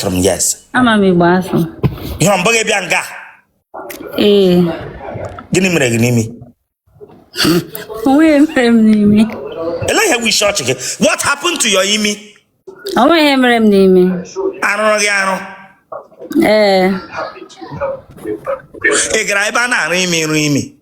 from yes ama m igbo asụ ihe ọ mbụghị bịa nga ee gịnị mere gị n'imi o nweghị mere m n'imi ele ihe bụ isi ọchị gị what happened to your imi o nweghị mere m n'imi a rụrụ gị arụ ee ị gara ebe a na-arụ imi ịrụ imi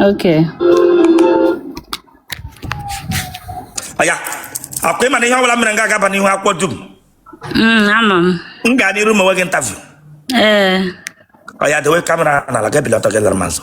Okay. Oya, akwa ịma na ihe ọbụla mere nga ga-aba n'ihu akwụkwọ dum. Mm, ama m. M gaa n'iru m wee gị interview. Ee. Oya, dewe kamera n'ala gị bilite gị lara m azụ.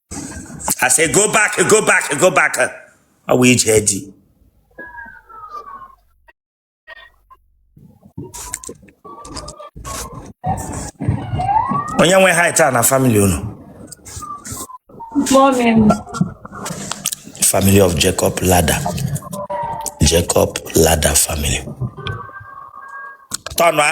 I say go back, go back, go back. Ọ bụ ije di. Onye nwe height a na family unu? Family of Jacob Ladder. Jacob Ladder family. Tọnụa.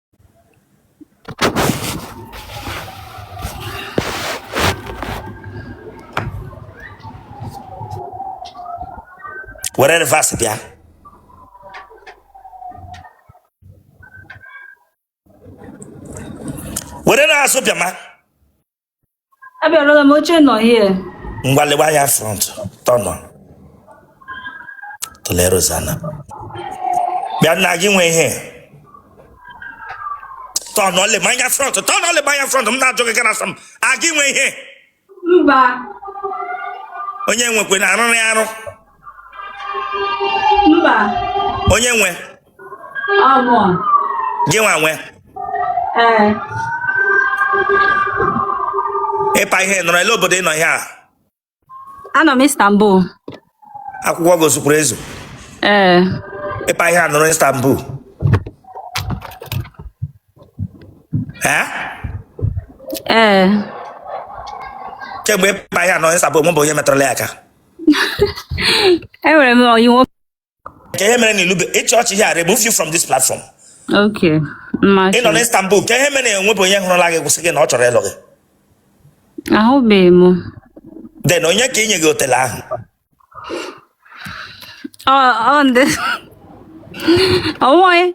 were reverse bịa were n'azụ bịa ma abịarụla m oche nọ here ngwa lewe anya front tọnụ tụlee Rosanna bịa nna gị nwe ihe tọnụ lebe anya front tọnụ lebe anya front m na-ajụ gị ga na-asa m a gị nwe ihe mba onye nwekwe na arụrụ ya arụ mba onye nwe gị nwa nwe ịpa ihe nọrọ ele obodo ị nọ ihe a anọ m Istanbul akwụkwọ gị o zukwuru ezu ee ịpa ihe a nọrọ Istanbul ee ee kemgbe ịpa ihe a nọrọ Istanbul enwebụ onye metụrụla ya aka enwere m ọyị nwoke ke ihe mere na ilube ịchị ọchị here I remove you from this platform Okay. ị nọ na Istanbul ke ihe mere na enwebụ onye hụrụla gị gwa sị gị na ọ chọrọ ịlụ gị Ahụbeghị m. then onye ka inye gị otele ahụ Ọ ọ ndị. Onwe you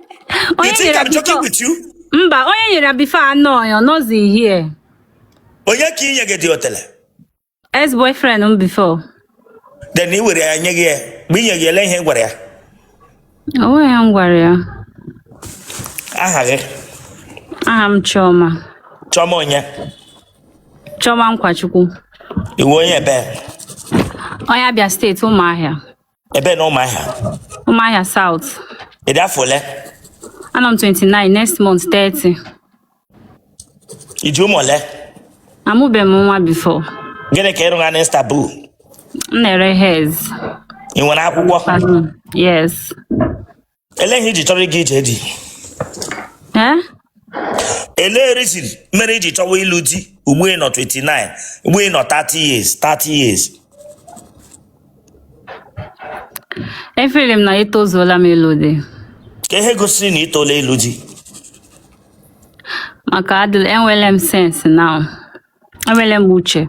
onye think nyere I'm joking before. with you Mba, onye nyere before anọ ya, ọ nọzi here. onye ka inye gị dị otele Ex boyfriend m before. then i were ya nye gị ya mgbe i nye gị ele ihe ị gwara ya O nweghị ihe m gwara ya. aha gị Aha m Chioma. Chioma onye Chioma Nkwachukwu. ị wụ onye ebe Onye Abia State Ụmụahịa. ebe n'Ụmụahịa Ụmụahịa South. ị dị afọ ole Anọ m 29, next month 30. i ji ụmụ ole Amụbeghị m nwa before. gịnị ka ị rụgha n'Istanbul M na-ere hairs. ị nwere akwụkwọ Yes. ele ihe i ji chọrọ ịga ije di Eh? ele reason mere i ji chọwa ịlụ di ugbu ị nọ 29 ugbu ị nọ 30 years 30 years E feel m na etozuola m ịlụ di kee ihe gosiri na i tola ịlụ di maka adịla enwere m sense now enwere m uche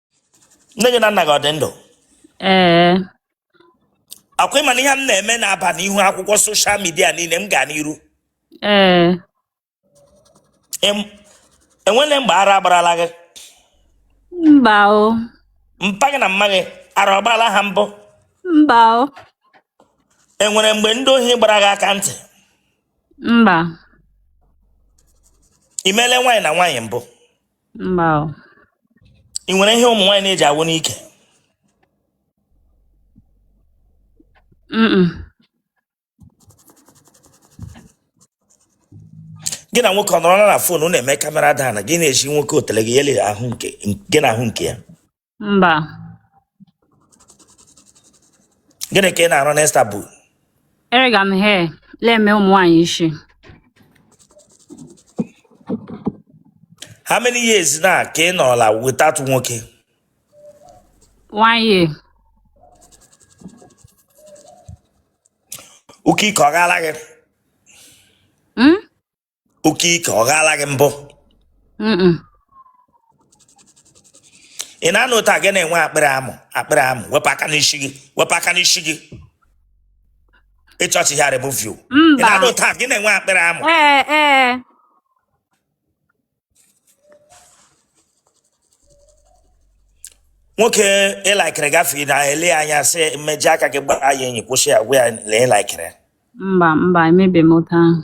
nne gị na nna gị ọ dị ndụ ee akwa ị ma na ihe m na-eme na-aba n'ihu akwụkwọ soshal midia niile m gaa n'iru ee Em- enwele mgbe ara agbarala gị mba o mpa gị na mma gị ara ọ gbarala ha mbụ mba o e nwere mgbe ndị ohi gbara gị aka ntị mba i mele nwaanyị na nwaanyị mbụ mba o. ị nwere ihe ụmụ nwaanyị na-eji awụ n'ike Mm-mm. gị na nwoke ọ nọrọla na fon na-eme kamera then gị na-ezi nwoke otele gị ya ele ahụ nke gị na ahụ nke ya mba gịnị ka ị na-arụ n'Istanbul erega m hair na-eme ụmụ nwaanyị isi how many years now ka ị nọla without nwoke one year ụka ike ọ gaala gị Hmm? oke ike ọ ghaala gị mbụ Mm-mm. ị na-anọ otu a gị na-enwe akpịrị amụ akpịrị amụ wepụ aka n'isi gị wepụ aka n'isi gị ị touch ya remove you ị na-anọ mba otu a gị na-enwe akpịrị amụ ee ee nwoke ị likere gafee na-ele ya anya sị mmeji aka gị gbaa ya enyi kwụsị ya gwa ya na ị likere mba mba emebe m otu ahụ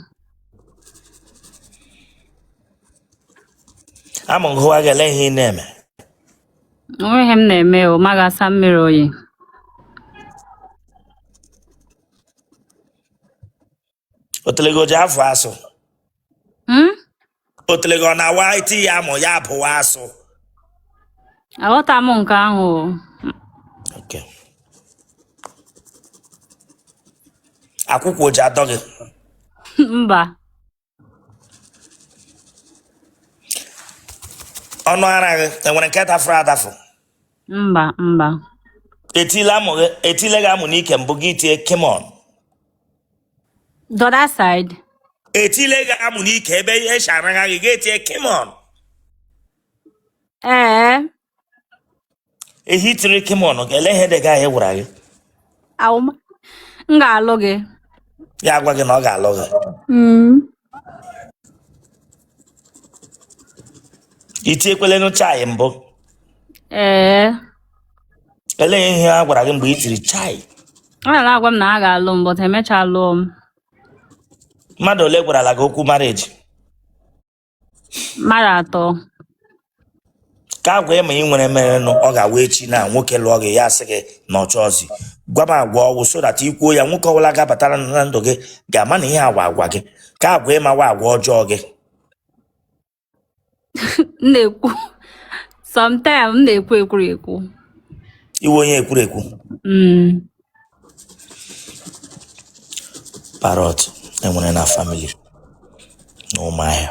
amụ gụwa gị ele ihe ị na-eme o nweghị ihe m na-eme o m ga-asa mmiri oyi otele gị o ji afọ asụ Hmm? otele gị ọ na-awụ e tie ya amụ ya abụwa asụ aghọta m nke ahụ o. Okay. akwụkwụ o ji adọ gị mba ọnụ ara gị enwere nke tafụrụ atafụ mba mba etile amụ gị etile gị amụ n'ike mbụ gị tie come on The other side. Etile gị amụ n'ike ebe e si ara gị gị etie come on. Ee. Ehi i tiri come on ele ihe di gị ahụ gwara gị. Awụma. M ga-alụ gị. Ya agwa gị na ọ ga-alụ gị. Mm. i tiekwelenụ chai mbụ ee elee ihe a gwara gị mgbe i tiri chai ọ na-agwa m na a ga-alụ m but emechaa lụọ m mmadụ ole gwarala gị okwu marriage mmadụ atọ ka agwa ị ma ị nwere merenụ ọ ga-awụ echi na nwoke lụọ gị ya asị gị na ọ chọọzi gwa m agwa ọwụ so that i kwuo ya nwoke ọbụla ga-abatara na ndụ gị ga-ama na ihe a wụ agwa gị ka agwa ị ma wụ agwa ọjọọ gị m na-ekwu sometimes m na-ekwu ekwurekwu ị wụ onye ekwurekwu Mm. parrot enwere na family n'Ụmụahịa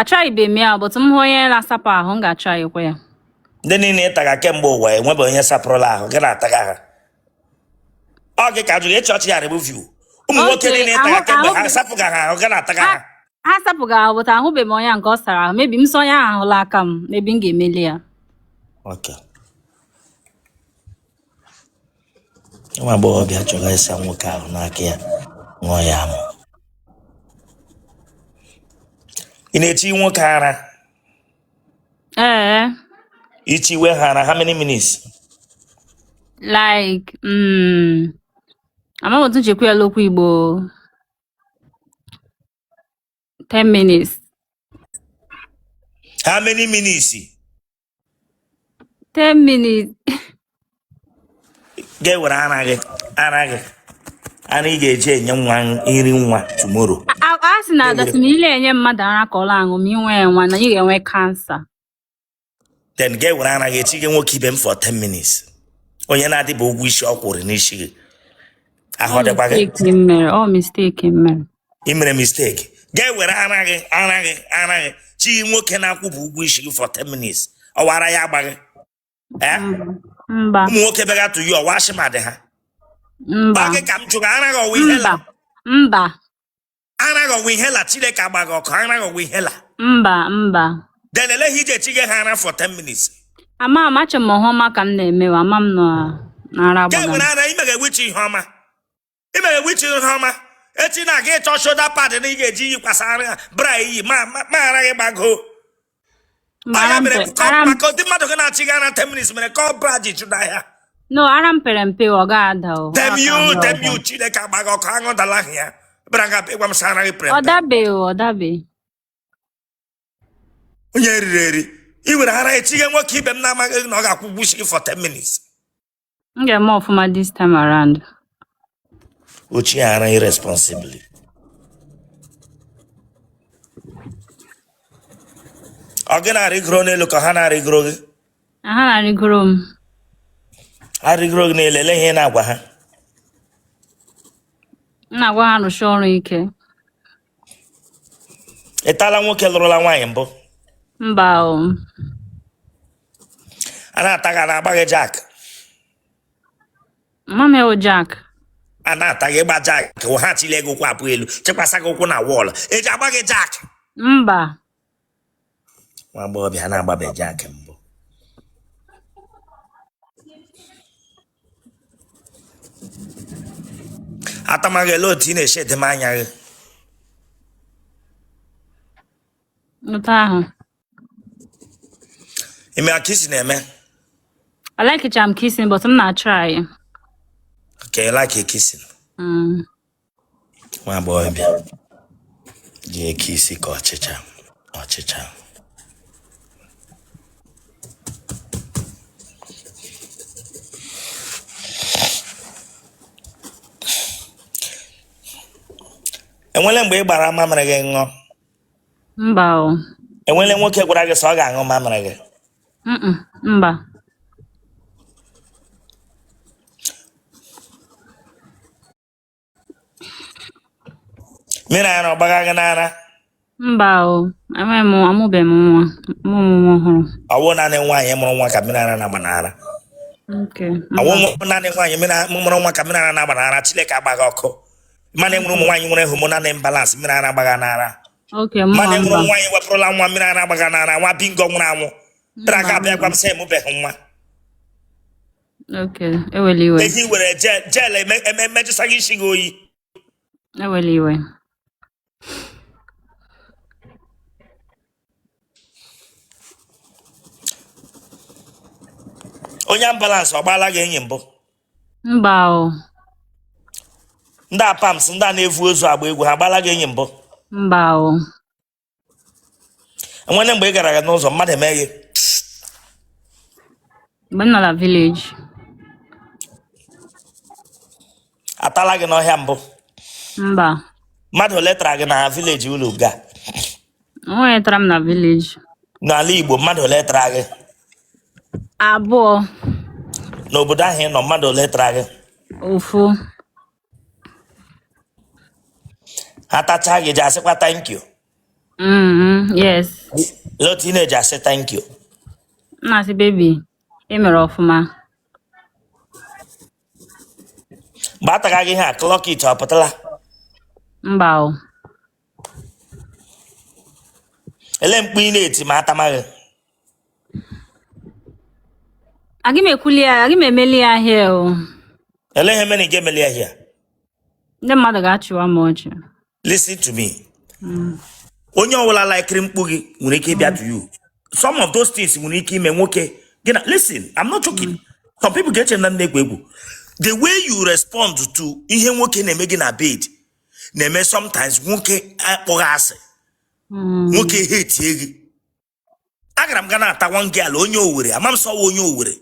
atrybe m ya but m hụ onye na-asapụ ahụ m ga-atrykwa ya ndị niile ị taga kemgbe ụwa enwebe onye sapụrụla ahụ gị na-ataga ha ọ gị ka jụrụ ịchị ọchị ya remove you ụmụ nwoke niile ị taga kemgbe ha sapụga ha ahụ gị na-ataga ha ha sapụga ahụ but ahụbeghị m onye nke ọ sara ahụ maybe m saa onye ahụ ahụ l'aka m maybe m ga-emeli ya nwa agbọghọbịa chọrọ ịsa nwoke ahụ n'aka ya ṅụọ ya amụ ị na-echi nwoke ara Eh, i chiwe ha ara how many minutes like, mm, amaghị m otu m ji ekwu ya n'okwu Igbo. 10 minutes. how many minutes 10 minutes. Gị were ara gị, ara gị. Ara ị ga-eji enye nwa iri nwa tomorrow. A a sị na adasị na i le-enye mmadụ ara ka ọ na-aṅụ ma ị nwee nwa na ị ga-enwe cancer. Then gị were ara gị echiga nwoke ibe m for 10 minutes. Onye na-adịbụ ụgwọ isi ọ kwụrụ n'isi gị. Ahụ ọ dịkwa gị. Mistake m mere, ọ mistake m mere. ị mere mistake gị ewere ara gị ara gị ara gị chi nwoke na-akwụbe ụgwọ isi gị for 10 minutes ọ wụ ara ya agba gị ee mba ụmụ nwoke bịara to you ọ wụ asthma dị ha mba ọ wụ gị ka m jụrụ ara gị ọ wụ inhaler mba mba ara gị ọ wụ inhaler chineke agba gị ọkụ ara gị ọ wụ inhaler mba mba then ele ihe i ji chi gị ha ara for 10 minutes amacha m ọhụma ka m na-emewe ama m nọ n'ara ga-ewere agbaga ara ị mega which ihe ọma ị mere which ihe ọma echi na-aga ịchọ shoulder pad na ị ga-eji yikwasa ara ya bra iyi ma ma- ma ara gị gbagoo Mara Anya m mere pe- kọ- ara m- maka ụdị mmadụ gị na-achị gị ara 10 minutes mere ka ọ bra ji chụda ahịa no ara m pere mpe ọ gaghị ada o damn Ọ you ga-ada damn ọda. you chineke agba gị ọkụ anụ dala ahịa bịara nga ịgwa m sị ara gị pere ọ mpe. dabeghị o, ọ dabeghị onye riri eri ị were ara echi gị nwoke ibe m na-amaghị na ọ ga-akwụ ụgwọ isi gị for 10 minutes M ga-eme ọfụma this time around. Ochi ara irresponsibly. Ọ gị na-arịgoro n'elu ka ha na-arịgoro gị? Ha na-arịgoro m. Ha rịgoro gị n'elu, ele ihe ị na-agwa ha? M na-agwa ha rụsie ọrụ ike. Ị tala nwoke lụrụla nwaanyị mbụ? Mba o. a na-ata gị a na-agba gị jack m ama ihe wụ jack a na-ata gị ịgba jack wụ ha chile gị ụkwụ abụọ elu chikwasa gị ụkwụ na wall eji agba gị jack mba nwa agbọghọbịa a na-agbabe jack mbụ atamaghị ele otu ị na-esi e-dim anya gị otu ahụ ị ma kissing eme A-likecha m kissing, but m na-a-try. okay ị like kissing Mm. nwa agbọghọbịa ji e-kiss ka ọchịcha ọchịcha enwele mgbe ị gbara mamịrị gị ṅụọ mba o enwele nwoke gwara gị sị ọ ga-aṅụ mamịrị gị Mm-mm, mba mmiri ara ọ gbaga gị n'ara mba o enweghị m amụbeghị m nwa mụ m nwa ọhụrụ ọ wụ naanị nwaanyị mụrụ nwa ka mmiri ara na-agba n'ara nke ọ wụ naanị nwaanyị mmiri ara- mụrụ nwa ka mmiri ara na-agba n'ara chineke agba gị ọkụ mana enwere ụmụ nwaanyị nwere hormonal imbalance mmiri ara agbagha n'ara Okay, mma mana enwere mba. ụmụ nwaanyị wepụrụla nwa mmiri ara agbagha n'ara nwa bingo nwụrụ anwụ tara aka abịa gwa m sị ị mụbeghị nwa Okay, ewela iwe. ehi were jel jel eme- eme- emejụsa gị isi gị oyi Ewela iwe. onye ambulance ọ gbaala gị enyi mbụ mba o ndị apams ndị a na-evu ozu agba egwu ha gbaala gị enyi mbụ mba o enwere mgbe ị gara aga n'ụzọ mmadụ eme gị mgbe m nọ na vileji atala gị n'ọhịa mbụ mba mmadụ ole tara gị na vileji ụlọ ga Onye tara m na vileji. n'ala igbo mmadụ ole tara gị Abụọ. n'obodo ahụ ị nọ mmadụ ole tara gị Ofu. ha tachaa gị ji asịkwa thank you Mm, yes. lee otu ị na-eji asị thank you M na-asị bebi, ị mere ọfụma. mgbe a taga gị ihe a clock it ọ pụtala Mba o. ele mkpu ị na-eti ma a tama gị Agị m ekwuli ya, agị m emeli ya hia o. ele ihe mere ị gị emeli ya hia Ndị mmadụ ga-achịwa m ọchị. listen to me onye ọbụla laikiri mkpu gị nwere ike ịbịa to you some of those things nwere ike ime nwoke gị na listen i'm not joking some people ga-eche na m na-egwu egwu the way you respond to ihe nwoke na-eme gị na bed na-eme sometimes nwoke akpọ gị asị hmm. nwoke ehetie gị agara m ga na-ata one girl onye owere ama m sị ọ wụ onye owere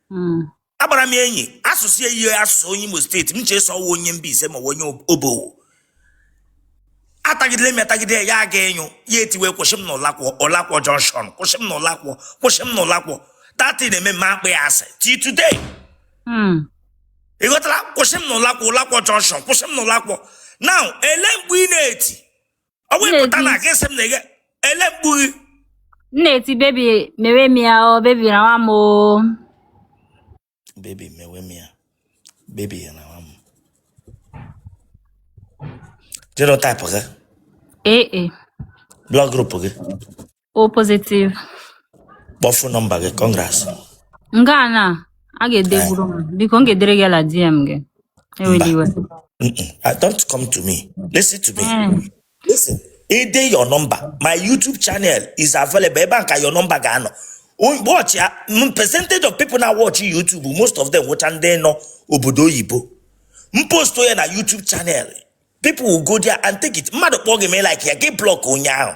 hmm. agbara m enyi asụsụ ya ihe asụsụ onye imo steeti m chee sị ọ wụ onye Mbaise ma onye obowo atagidere m ya tagide ya aga ịnyụ ya etiwe kwụsị m na ụlakwọ ụlakwọ junction kwụsị m na ụlakwọ kwụsị m na ụlakwọ that thing eme m akpọ ya asị till today hmm. ị ghọtara kwụsị m n'Ụlakwọ Ụlakwọ jọnshọn kwụsị m n'Ụlakwọ now ele mkpu ị na-eti ọ bụ ịpụta na gị sị m na ị ga- ele mkpu gị m na-eti bebi mewe m ya o bebi rawa m o bebi mewe m ya bebi rawa m o jenotaipụ gị AA blọd grupu gị O positive. phone number gị congrats Nke a na a ga-edeburu m. Biko m ga-edere gị la DM gị. Ewela iwe. Mm-mm. I don't come to me listen to me Mm. listen i dee your number my youtube channel is available ebe a ka your number ga-anọ O- watch ya m percentage of people na-watch youtube most of them wụcha ndị nọ obodo oyibo m post ya na youtube channel people will go there and take it mmadụ kpọọ gị ma ị like ya gị block onye ahụ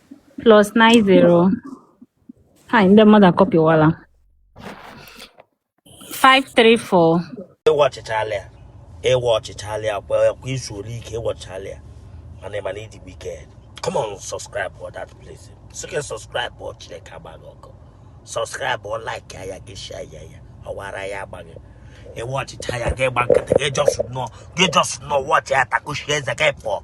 plus 90 ha ndị mmadụ akọpịwala 534 ị watchchaala ya ị watchchaala ya kwa izu ole ike ị watchchaala ya mana ị ma na ị dị wicked come on subscribe for that place so can subscribe before Chineke agbaa gị ọkụ subscribe or like ya gị share ya ya ọwara ya agbaghị ị watchchaa ya gị gba nkịtị gị just nọ gị just nọ watch ya takushie eze gị pụọ